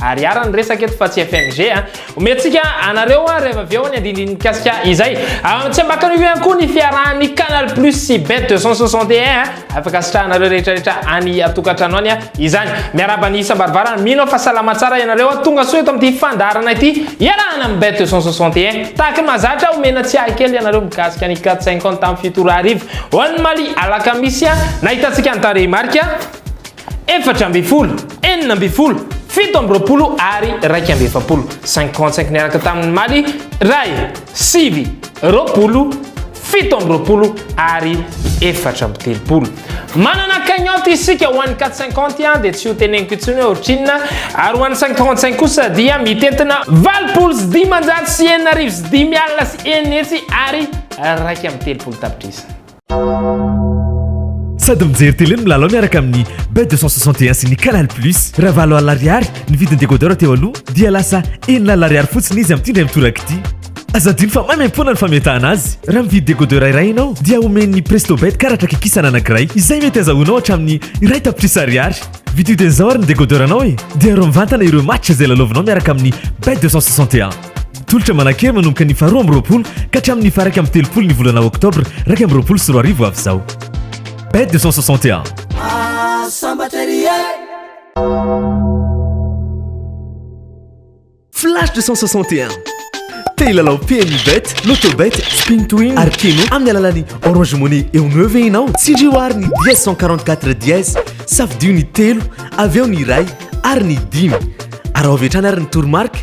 Ary iara ny resaka eto fa tsy FMG a. Omentsika anareo ary avy avy eo ny andindiny mikasika izay. Tsy ambakan'io ihany koa ny fiarahan'ny Canal Plus sy Bet 261 a. Afaka asitrahanareo rehetra rehetra any an-tokantrano any izany. Miarahaba ny isam-baravarana. Mino aho fa salama tsara ianareo a. Tonga soa eto amin'ity fandaharana ity iarahana amin'ny Bet 261. Tahaka ny mahazatra omena tsiahy kely ianareo mikasika ny 4-5 ans tamin'ny fito ora hariva ho an'ny Mali alakamisy a. Nahitantsika ny tarehimarika. efatra ambin'ny folo, enina ambin'ny folo, fito amby roapolo ary iraika amby efapolo, cinquante cinq niaraka tamin'ny maly iray, sivy, roapolo, fito amby roapolo ary efatra amby telopolo. Manana cagnotte isika ho an'ny quatre cinquante a dia tsy ho teneniko intsony hoe ohatrinona ary ho an'ny cinquante cinq kosa dia mitentina valopolo sy dimanjato sy enina arivo sy dimy alina sy enina hetsy ary iraika amby telopolo tapitrisa. Sady mijery télé no milalao miaraka amin'ny Bet 261 sy ny Canal Plus. Raha valo alina ariary ny vidin'ny décodeur teo aloha dia lasa enina alina ariary fotsiny izy amin'ity indray mitoraka ity. Aza adino fa maimaimpoana ny fametahana azy. Raha mividy décodeur iray ianao dia omen'ny Prestobet karatra kikisana anankiray izay mety azahoanao hatramin'ny iray tapitrisa ariary. Vidio dia izao ary ny décodeur-nao e! Dia arovy mivantana ireo match izay lalaovinao miaraka amin'ny Bet 261. Tolotra manan-kery manomboka ny faharoa amby roapolo ka hatramin'ny faha-iraika amby telopolo ny volana oktobra iraika amby roapolo sy roa arivo avy izao. Bet 261. Flash 261 Te hilalao PMU Bet, Lotobet, Spin to Win ary Keno amin'ny alalan'ny Orange Money eo no ve ianao? Tsindrio ary ny dièse 144 dièse, safidio ny telo, avy eo ny iray ary ny dimy. Araho avy hatrany ary ny toromarika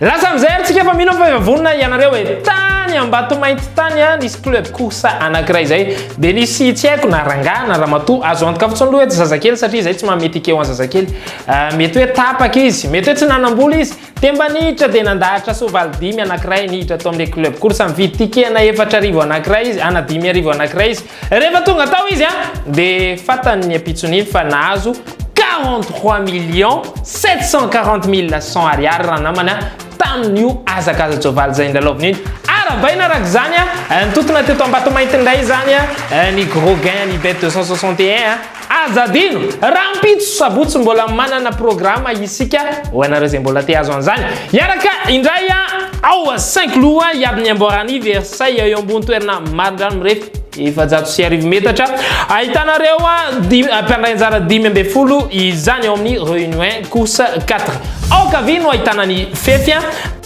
Lasa amin'izay ary tsika fa mino fa efa vonona ianareo e. Tany Ambatomainty tany a, nisy club course anankiray izay. Dia nisy tsy haiko na rangahy na ramatoa azo antoka fotsiny aloha eto zazakely satria izay tsy mahamety ikeo an'i zazakely. Ah, mety hoe tapaka izy, mety hoe tsy nanam-bola izy. Temba niditra dia nandahatra soavaly dimy anankiray niditra tao amin'ilay club course. Nividy ticket ana efatra arivo anankiray izy, ana dimy arivo anankiray izy. Rehefa tonga tao izy an, dia fantany ny ampitson'iny fa nahazo 43 millions 740 mille 100 ariary ranamana tamin'io hazakaza-tsoavaly izay nilalaoviny iny. Arahabaina araka izany an, nitontona teto Ambatomainty indray izany an, ny gros gain an'i Bet 261 an. Aza adino, rahampitso sabotsy mbola manana programa isika ho anareo izay mbola te hahazo an'izany. Hiaraka indray ao Saint-Cloud hiady ny amboaran'i Versailles eo ambony toerana marindrano mirefy efajato sy arivo metatra. Ahitanareo mpandray anjara dimy ambin'ny folo izany ao amin'ny Reunion Course 4. Ao ankavia no ahitana ny fefy.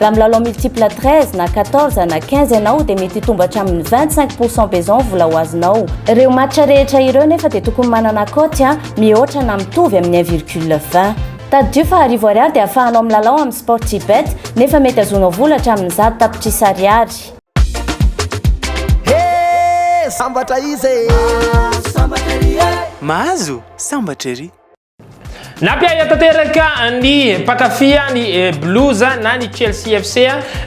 Raha milalao multiple 13 na 14 na 15 ianao dia mety hitombo hatramin'ny 25 pourcent beson vola ho azonao. Ireo match rehetra ireo nefa dia tokony manana cote a mihoatra na mitovy amin'ny 1 virgule 20. Tadidio fa arivo ariary dia ahafahanao milalao amin'ny Sportybet nefa mety azonao vola hatramin'ny zato tapitrisa ariary. Hee sambatra iza ee. Mahazo sambatra ery. Nampiahy tanteraka ny mpankafy ny eh, Blues na ny Chelsea FC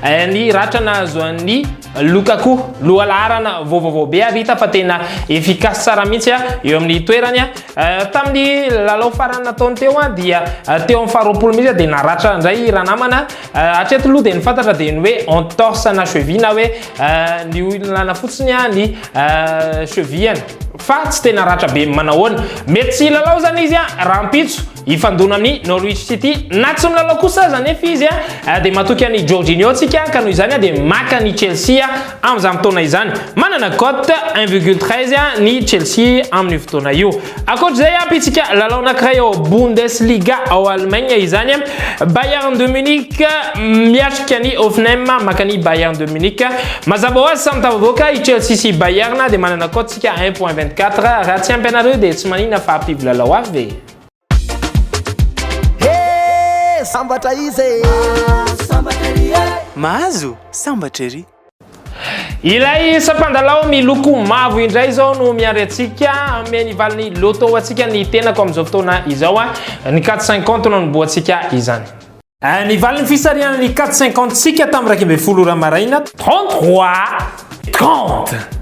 eh, ny ratra nahazo an'ny Lukaku loha laharana vaovaovao be ary hita fa tena efficace tsara mihitsy ah, eo amin'ny toerany. Ah. Eh, tamin'ny lalao farany nataony teo dia teo amin'ny faharoapolo mihitsy dia naratra indray ranamana Euh, hatreto aloha dia ny fantatra dia ny hoe entorse na cheville na hoe euh, ny olana fotsiny a ny euh, chevillany fa tsy tena ratra be manahoana mety tsy hilalao zany izy a rahampitso hifandona amin'ny norwich city na tsy milalao kosa aza nefa izy a dia matoky an'i jorginio tsika ka noho izany a dia maka ny chelsea amin'izany fotoana izany manana cote 1,13 ny chelsea amin'io fotoana io Ankoatr'izay, ampitsika lalao anankiray ao Bundesliga ao Allemagne izany. Bayern de Munich miatrika ny Hoffenheim, maka ny Bayern de Munich. Mazava ho azy samy tafavoaka i Chelsea sy Bayern dia manana cote isika 1.24. Raha tsy ampy anareo dia tsy manina fa ampivy lalao hafa ve? Sambatra izy e! Mahazo sambatra ery! Ilay sampandalao miloko mavo indray izao no miandry antsika hanome ny valin'ny loto ho antsika ny tenako amin'izao fotoana izao. Ny 450 no niboantsika izany. Ny valin'ny fisarihana ny 450 tsika tamin'ny iraika ambin'ny folo ora maraina. 33, 30.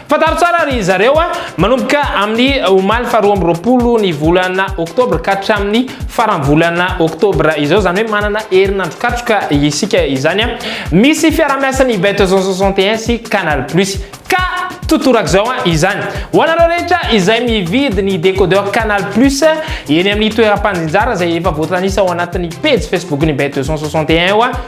Fantaro tsara ry zareo a! Manomboka amin'ny omaly faharoa amby roapolo ny volana oktobra ka hatramin'ny faran'ny volana oktobra izao, izany hoe manana herinandro katroka isika izany a! Misy fiaraha-miasan'ny Bet Zone soixante et un sy Canal Plus ka totorak'izao izany. Ho anareo rehetra izay mividy ny décodeur Canal Plus eny amin'ny toeram-pandrinjara izay efa voatanisa ao anatin'ny pejy Facebook-n'ny Bet Zone soixante et un io a!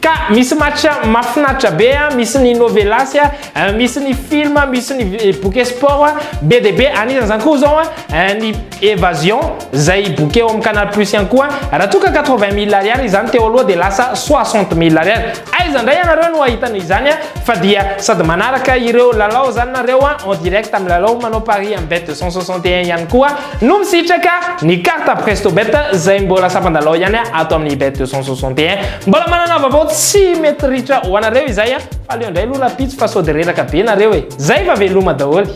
Ka misy match mafinaritra be a, misy ny novelas a, misy ny film, misy ny bouquet sport a, be dia be, anisan' izany koa izao a ny evasion izay bouquet ao amin'ny canal plus ihany koa, raha toa ka quatre vingt mille ariary izany teo aloha dia lasa soixante mille ariary, aiza indray ianareo no hahita an' izany a, fa dia sady manaraka ireo lalao izany nareo a, en direct milalao manao paris amin'ny bet deux cent soixante et un ihany koa, No misitraka ny carte prestobet izay mbola sampan-dalao ihany ato amin'ny bet 261. Mbola manana vaovao tsy mety ritra ho anareo izay a! Fa aleo indray aloha rahampitso fa sôdy reraka be nareo e! Zay fa veloma daholo!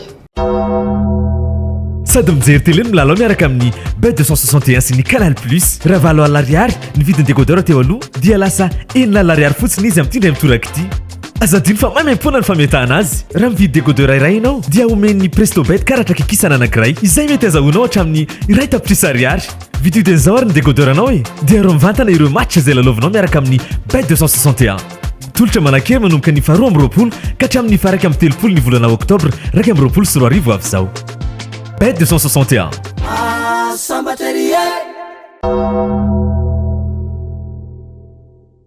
Sady mijery tele no milalao miaraka amin'ny Bet 261 sy ny Canal Plus. Raha valo alina ariary ny vidin'ny décodeur teo aloha dia lasa enina alina ariary fotsiny izy amin'ity indray mitoraka ity. Aza adino fa maimaimpoana ny fametahana azy. Raha mividy décodeur iray ianao, dia omen'ny Prestobet karatra kikisana anankiray, izay mety azahoanao hatramin'ny iray tapitrisa ariary. Vididin' izao ary ny décodeur anao e! Dia aro mivantana ireo match izay lalaovinao miaraka amin'ny Bet 261. Tolotra manankery manomboka ny faharoa amby roapolo ka hatramin'ny faharaika amby telopolo ny volana oktobra iraika amby roapolo sy roa arivo avy izao. Bet 261.